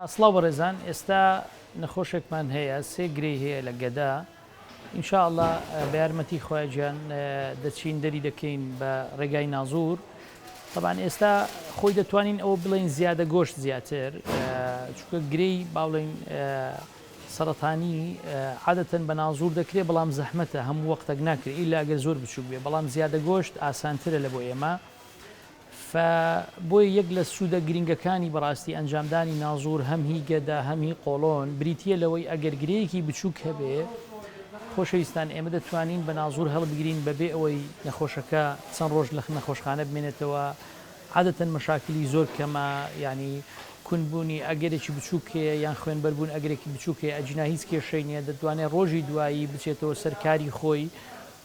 سڵاو بەڕێزان ئێستا نەخۆشێکمان هەیە سێ گرێی هەیە لە گەدە ان شاء اللە بەیارمەتی خوای گیان دەچین دەری دەکەین بە ڕێگای نازور طبعا ئێستا خۆی دەتوانین ئەوە بڵێن زیادە گۆشت زیاتر چونکە گرێی باڵێن سەرەتانی عادەتەن بە نازور دەکرێت بەڵام زەحمەتە هەموو وەختەک ناکرێت ئیلا گەر زۆر بچوک بێ بەڵام زیادە گۆشت ئاسانترە لە بۆ ئێمە فە بۆیە یەک لە سوودە گرینگەکانی بەڕاستی ئەنجامدانی نازوور هەم هی گەدە هەم هی قۆڵۆن بریتییە لەوەی ئەگەر گرێیەکی بچووک هەبێ خۆشەویستان ئێمە دەتوانین بە نازوور هەڵبگرین بەبێ ئەوەی نەخۆشەکە چەند ڕۆژ لە نەخۆشخانە بمێنێتەوە عادەتەن مەشاکلی زۆر کەمە یانی کون بوونی ئەگەرێکی بچووک هەیە یان خوێنبەر بوون ئەگرێکی بچووک هەیە ئەجینا هیچ کێشەی نییە دەتوانێت ڕۆژی دوایی بچێتەوە سەر کاری خۆی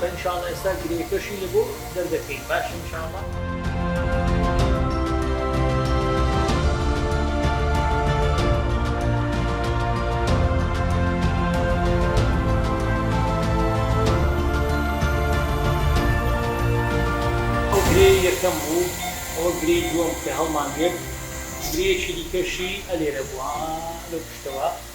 بە ان شاءاللە ئێستا گرێکەشی لە بۆ دەردەکەین باشە ان شاءاللە. ئەو گرێی یەکەم بوو ئەوە گرێی دووەم کە هەڵمان گرت گرێیەکی دیکەشی ئەلێرە بوو ها لەو پشتەوە.